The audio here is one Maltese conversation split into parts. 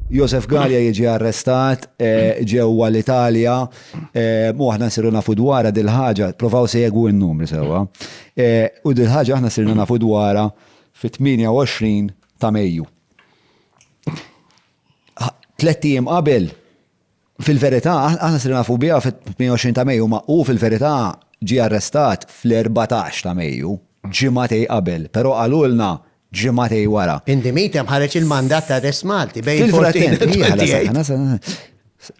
Josef Gallia jiġi arrestat eh, ġewwa l-Italja eh, u aħna nsiru nafu dwarha dil-ħaġa, provaw segwu n-numri sewwa. Eh, u dil-ħaġa aħna sirna nafu dwarha fit-28 ta' Mejju. Tlet ijiem qabel Fil-verità, aħna sirna nafu biha fit-28 ta' Mejju, ma hu fil-verità ġie arrestat fl-14 ta' Mejju, ġimagħtej qabel, però qalulna ġimagħtej wara. In the meantime ħareġ il-mandat ta' arrest Malti bejn il-14 u l-28.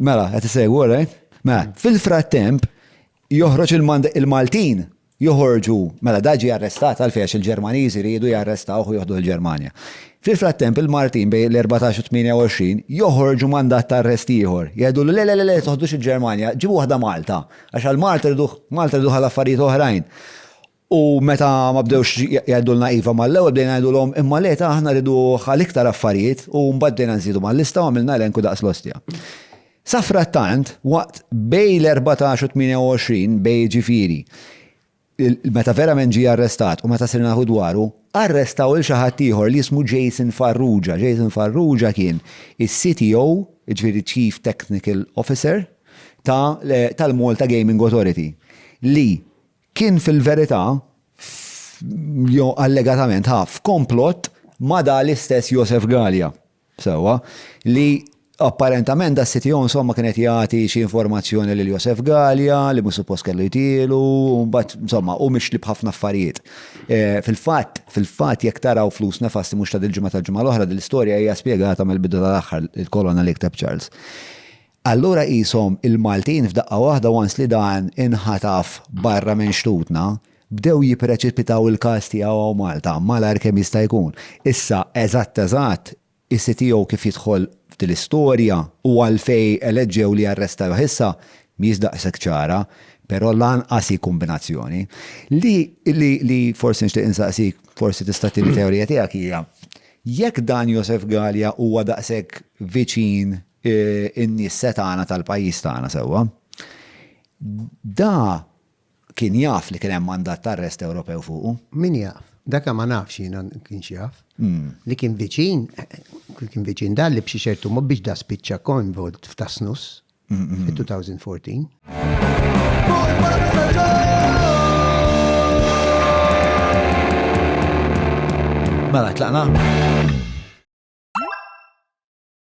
Mela, qed issegwu, alright? Mela, fil-frattemp joħroġ il-Maltin joħorġu, mela dan ġie arrestat għalfejn għax il-Ġermaniżi riedu jarrestawh u joħduh il-Ġermanja. Fil-frattemp il-Martin bejn l-erbatax u t-tmienja-u-għoxrin joħorġu mandat ta' arrest ieħor, jgħidulu le le le le toħdux il-Ġermanja, ġibu waħda Malta, għax għal Malta rriduh, Malta rriduh għal affarijiet oħrajn. U meta ma bdewx jgħidulna iva mal-ewwel bdejna ngħidulhom imma le ta' aħna rriduh għal iktar affarijiet u mbagħad bdejna nżidu mal-lista u għamilna elenku daqs l-ostja. Safrattant, waqt bejn l-erbatax u t-tmienja-u-għoxrin May jiġifieri, meta verament ġie arrestat u meta sirna nafu dwaru, arrestaw lil xi ħadd ieħor li jismu Jason Farrugia. Jason Farrugia kien is-CTO, jiġifieri Chief Technical Officer, ta' tal-Malta Gaming Authority. Li kien fil-verità, jew allegatament, ħa f'komplott ma' dan l-istess Josef Galea. Sewwa, li apparentament da s-sit jew insomma kien qed jagħti xi informazzjoni lil Josef Galea li mhux suppost kellu jtielu u mbagħad insomma hu mixli b'ħafna affarijiet. Fil-fatt, fil-fatt jekk taraw Flus Nefasti mhux ta' dil-ġimgħa tal-ġimgħa l-oħra din l-istorja hija spjegata mill-bidu tal-aħħar, il-kolonna li kteb Charles. Allura qishom il-Maltin f'daqqa waħda once li dan inħataf barra minn xtutna, bdew jippreċipitaw il-każ tiegħu hawn Malta malajr kemm jista' jkun. Issa eżatt eżatt is-CTO kif jidħol f'din l-istorja u għalfejn eleġġew li jarrestawh issa mhijiex daqshekk ċara, però lanqas hi kombinazzjoni. Li li li forsi nixtieq insaqsik, forsi tista' tini teorija tiegħek hija, jekk dan Josef Galea huwa daqshekk viċin in-nies setgħana tal-pajjiż tagħna sewwa. Da kien jaf li kien hemm mandat ta' arrest Ewropew fuqu? Min jaf? Daka ma nafx jiena kienx jaf. Li kien viċin, kien viċin dan li b'xi ċertu mod biex da spiċċa coinvolved f'Tasnus fit-2014. Mela, tlaqna?